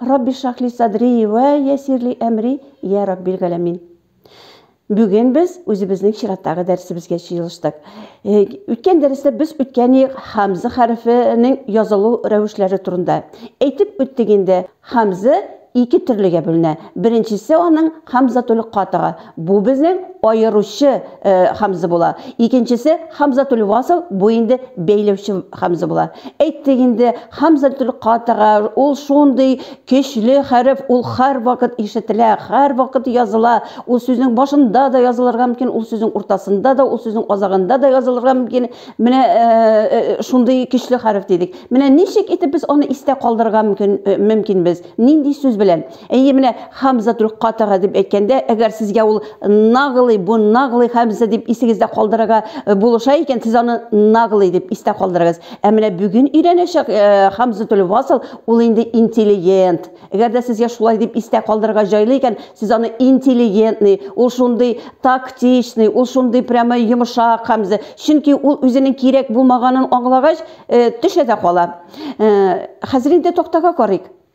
Рабби шахли садри вә ясирли әмри, йә Раббил галәмин. Бүген без үзебезнең чираттагы дәресебезгә җыелыштык. Э, үткән дәрестә без үткән ел хамза хәрефенең язылу рәвешләре турында әйтеп үттек инде. Хамза ике төрлегә бүленә. Беренчесе аның хамзатул катыга, Бу безнең аеручы э, хамза була. Икенчесе хамзатул васл, бу инде бәйләүче хамза була. Әйттек инде, хамзатул катага ул шундый көчле хәреф, ул һәр вакыт ишетелә, һәр вакыт языла. Ул сүзнең башында да язылырга мөмкин, ул сүзнең уртасында да, ул сүзнең азагында да язылырга мөмкин. Менә э, э, шундый көчле хәреф дидек. Менә ничек итеп без аны истә калдырырга мөмкин, э, мөмкин без? Нинди сүз белән? Әйе, менә Хамза Тулкатага дип әйткәндә, әгәр сезгә ул наглый, бу наглый Хамза дип исегездә калдырырга э, булыша икән, сез аны наглый дип истә калдырыгыз. Ә менә бүген өйрәнәчәк э, Хамза Тулвасыл ул инде интеллигент. Әгәр дә сезгә шулай дип истә калдырырга җайлы икән, сез аны интеллигентный, ул шундый тактичный, ул шундый прямо йомшак Хамза. Чөнки ул үзенең кирәк булмаганын аңлагач, э, төшә дә кала. Э, хәзер инде тактага карыйк.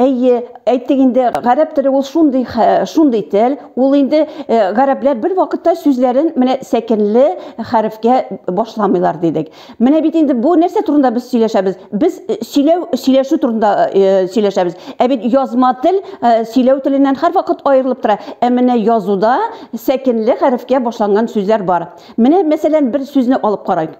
Әйе, әйттек инде, гарәп теле ул шундый шундый тел, ул инде э, гарәпләр бер вакытта сүзләрен менә сәкенле хәрефкә башламыйлар дидек. Менә бит инде бу нәрсә турында без сөйләшәбез? Без э, сөйләү, сөйләшү турында э, сөйләшәбез. Ә бит язма тел сөйләү теленнән һәрвакыт аерылып тора. Ә менә язуда сәкенле хәрефкә башланган сүзләр бар. Менә мәсәлән бер сүзне алып карайк.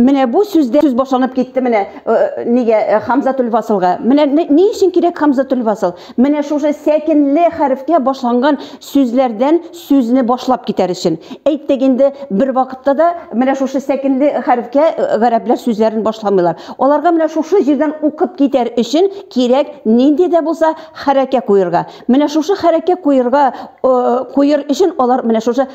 Менә бу сүздә сүз башланып китте менә э, нигә э, Хамзатул Васылга. Менә ни өчен кирәк Хамзатул Васыл? Менә шушы сәкенле хәрефкә башланган сүзләрдән сүзне башлап китәр өчен. Әйттек инде бер вакытта да менә шушы сәкенле хәрефкә э, гарәпләр сүзләрен башламыйлар. Аларга менә шушы җирдән укып китәр өчен кирәк нинди дә булса хәрәкә куерга. Менә шушы хәрәкә куерга куер өчен алар менә шушы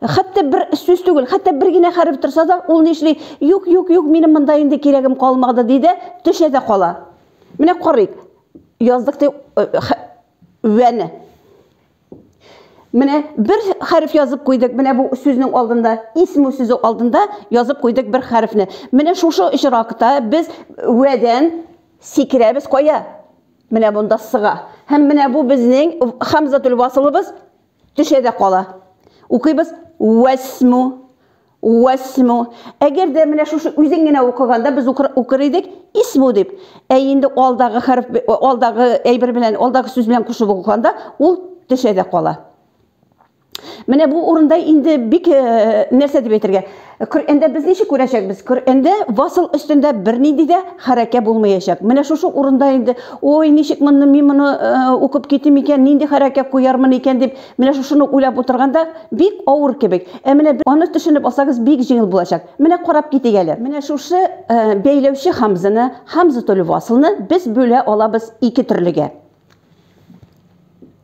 Хәтта бер сүз түгел, хәтта бер генә хәреф торса да, ул нишли? Юк, юк, юк, минем монда инде кирәгем калмады, ди дә, төшә дә кала. Менә карыйк. Яздык ди вәне. Менә бер хәреф язып куйдык, менә бу сүзнең алдында, исму сүзе алдында язып куйдык бер хәрефне. Менә шушы очракта без вәдән сикерәбез кая? Менә монда сыга. Һәм менә бу безнең хамзатул васылыбыз Төшә дә кала. Укыйбыз. Вәсму. Вәсму. Әгәр дә менә шушы үзен генә укыганда без укыр идек исму дип. Ә инде алдагы хәреф, алдагы әйбер белән, алдагы сүз белән кушып укыганда ул төшә дә кала. Менә бу урында инде бик нәрсә дип әйтергә? Ә Коръәндә без ничек күрәчәкбез? Коръәндә васыл өстендә бернинди дә хәрәкә булмаячак. Менә шушы урында инде, ой, ничек моны мин моны э, укып китим икән, нинди хәрәкә куярмын икән дип, менә шушыны уйлап утырганда бик авыр кебек. Ә менә аны төшенеп алсагыз бик җиңел булачак. Менә карап китик әле. Менә шушы э, бәйләүче хамзаны, хамзатуль васылны без бүлә алабыз ике төрлегә.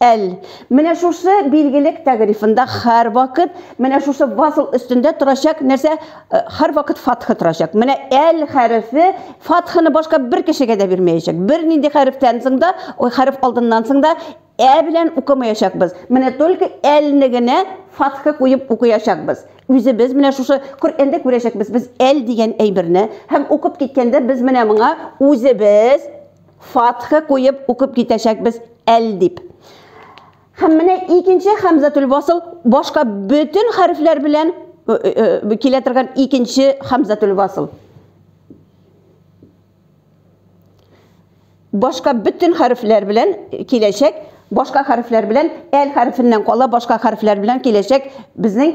Әл. Менә шушы билгелек тәгърифында һәрвакыт менә шушы васл өстендә торачак нәрсә һәрвакыт фатха торачак. Менә әл хәрефе фатханы башка бер кешегә дә бирмәячәк. Бернинди хәрефтән соң да, ой, хәреф алдыннан соң да ә белән укымаячакбыз. Менә только әлне генә фатха куеп укыячакбыз. Үзебез менә шушы Коръәндә күрәчәкбез без әл дигән әйберне һәм укып киткәндә без менә моңа үзебез Фатхы куеп укып китәчәкбез әл дип. Һәм менә икенче хәмзәтүл васл башка бөтен хәрефләр белән килә торган икенче хәмзәтүл васл. башка бөтен хәрефләр белән киләчәк, башка хәрефләр белән әл хәрефеннән кала башка хәрефләр белән киләчәк безнең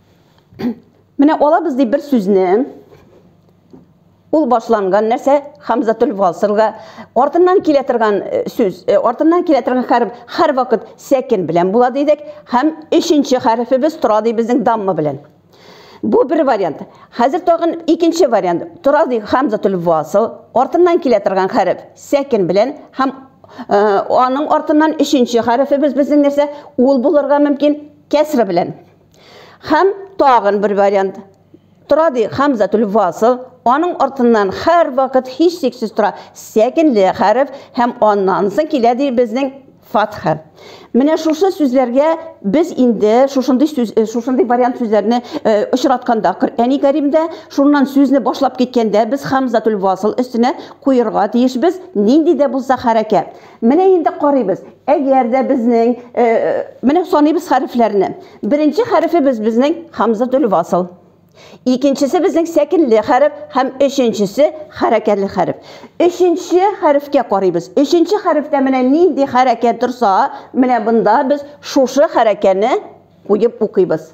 Менә алабыз ди бер сүзне. Ул башланган нәрсә Хамзатул Васылга артыннан килә торган э, сүз, э, артыннан килә торган хәреф һәр вакыт сәкин белән була дидек һәм өченче хәрефебез тора ди безнең дамма белән. Бу бер вариант. Хәзер тагын икенче вариант. Тора ди Хамзатул Васыл артыннан килә торган хәреф сәкин белән һәм э, аның артыннан өченче хәрефебез безнең нәрсә ул булырга мөмкин кәсра белән. Хәм тагын бер вариант тора ди Хамзатул Васл, аның артыннан хәр вакыт һич сиксез тора сәкенле хәреф һәм аннан соң килә ди безнең фатха. Менә шушы сүзләргә без инде шушындый сүз э, шушындый вариант сүзләрне э, очратканда Коръәни Кәримдә, шуннан сүзне башлап киткәндә без Хамзатул Васл өстенә куерга тиешбез, нинди дә булса хәрәкәт. Менә инде карыйбыз. Әгәр дә безнең менә саныйбыз хәрефләрне. Беренче хәрефебез безнең хамзатул васл. Икенчесе безнең сәкенле хәреф һәм өченчесе хәрәкәтле хәреф. Өченче хәрефкә карыйбыз. Өченче хәрефтә менә нинди хәрәкә торса, менә бында без шушы хәрәкәне куеп укыйбыз.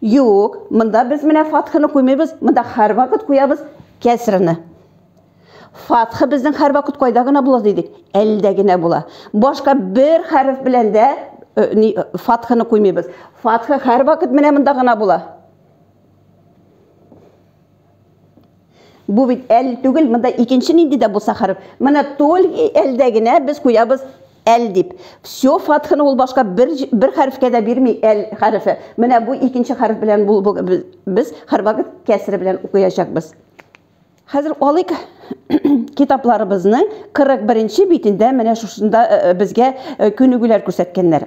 Юк, монда без менә фатхыны куймыйбыз, монда һәрвакыт куябыз кәсрыны. Фатхы безнең һәрвакыт кайда гына була дидек, әлдә генә була. Башка бер хәреф белән дә э, ни э, фатхыны куймыйбыз. Фатхы һәрвакыт менә монда гына була. Бу бит әл түгел, монда икенче нинди дә булса хәреф. Менә толь әлдә генә без куябыз әл дип. Все фатханы ул башка бер бер хәрефкә дә бирми әл хәрефе. Менә бу икенче хәреф белән бу без хәрбагы кәсре белән укыячакбыз. Хәзер алыйк китапларыбызның 41 нче битендә менә шушында безгә күнегүләр күрсәткәннәр.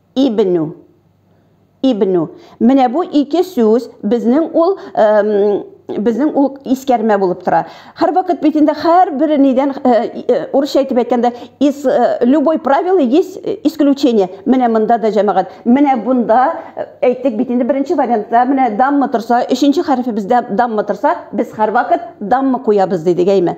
Ибнү. Ибнү. Менә бу ике сүз безнең ул безнең ул искәрмә булып тора. Һәрвакыт бит инде һәрбер нидән урысча әйтеп әйткәндә из любой правила есть исключение. Менә монда да җәмәгать. Менә бунда әйттек бит инде беренче вариантта менә дамма торса, өченче хәрефебездә дамма торса, без һәрвакыт дамма куябыз дидек, әйме?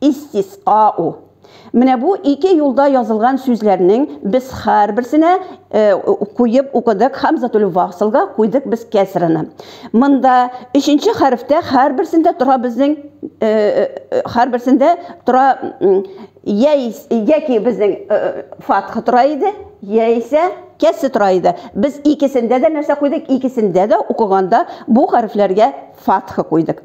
истисау. Менә бу ике юлда язылган сүзләрнең без һәрберсенә э, куеп укыдык хамзатул васлга куйдык без кәсраны. Монда өченче хәрефтә һәрберсендә тора безнең э, э, һәрберсендә тора яки безнең фатха тора иде, яисә кәсе тора иде. Без икесендә дә нәрсә куйдык? Икесендә дә укыганда бу хәрефләргә фатха куйдык.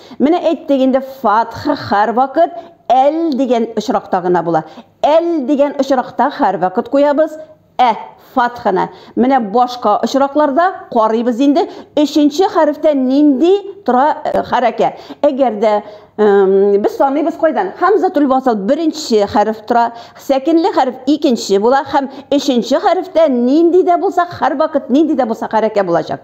Менә әйттек инде, фатха һәрвакыт әл дигән очракта гына була. Әл дигән очракта һәрвакыт куябыз ә фатханы. Менә башка очракларда карыйбыз инде, өченче хәрефтә нинди тора э, хәрәкә. Әгәр дә без саныйбыз кайдан? Хамзатул васл беренче хәреф тора, сәкенле хәреф икенче була һәм өченче хәрефтә нинди дә булса һәрвакыт нинди дә булса хәрәкә булачак.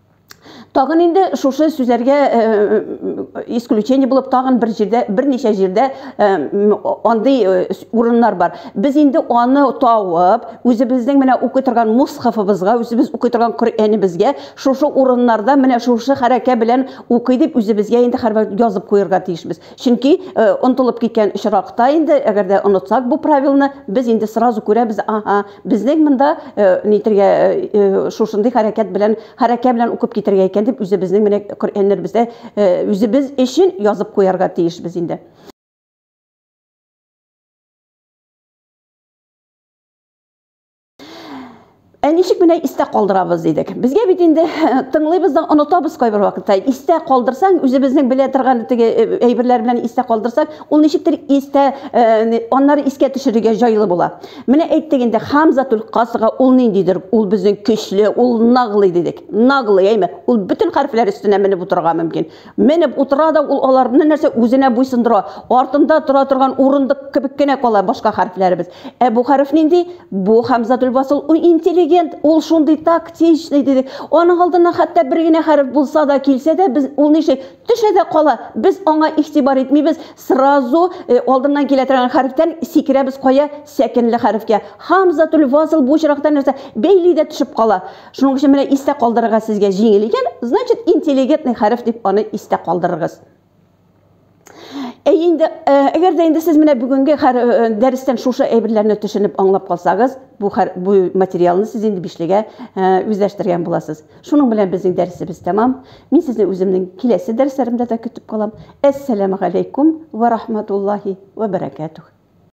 Тагын инде шушы сүзләргә э, э, исключение булып тагын бер җирдә берничә җирдә э, андый урыннар бар. Без инде аны тавып, үзебезнең менә укый торган мусхафыбызга, үзебез укый торган Коръәнебезгә шушы урыннарда менә шушы хәрәкә белән укый дип үзебезгә инде хәрбәр язып куярга тиешбез. Чөнки онытылып киткән очракта инде, әгәр дә онытсак бу правилны, без инде сразу күрәбез, аһа, безнең монда нитергә, шушындый хәрәкәт белән, хәрәкә белән укып китәргә икән дип, үзебезнең менә Коръәннәребездә үзебез өчен язып куярга тиешбез инде. Ә ничек менә истә калдырабыз дидек. Безгә бит инде тыңлыйбыз да онытабыз кайбер вакытта. Истә калдырсаң, үзебезнең белә торган теге э, әйберләр белән истә калдырсак, ул ничектер истә э, аннары искә төшерергә җайлы була. Менә әйттек инде Хамзатул касыга ул ниндидер? Ул безнең көчле, ул наглый дидек. Наглый, әйме? Ул бөтен хәрефләр өстенә менеп утырырга мөмкин. Менеп утыра да ул аларны нәрсә үзенә буйсындыра. Артында тора торган урындык кебек кенә кала башка хәрефләребез. Ә бу хәреф нинди? Бу Хәмзәтул Васл, ул интеллигент, ул шундый тактичный дидек. Аның алдына хәтта бер генә хәреф булса да килсә дә, без ул нишли? Төшә дә кала. Без аңа игътибар итмибез, сразу э, алдыннан килә торган хәрефтән сикерәбез кая? Сәкенле хәрефкә. Хәмзәтул Васл бу очракта нәрсә? Бәйли дә төшеп кала. Шуның өчен менә истә калдырырга сезгә җиңел икән, значит, интеллигентный хәреф дип аны истә калдырыргыз. Әй инде, әгәр дә инде сез менә бүгенге дәрестән шушы әйберләрне төшенеп аңлап калсагыз, бу бу материалны сез инде бишлегә үзләштергән буласыз. Шуның белән безнең дәресебез тәмам. Мин сезне үземнең киләсе дәресләремдә дә көтеп калам. Әссәламу алейкум ва рахматуллахи ва баракатух.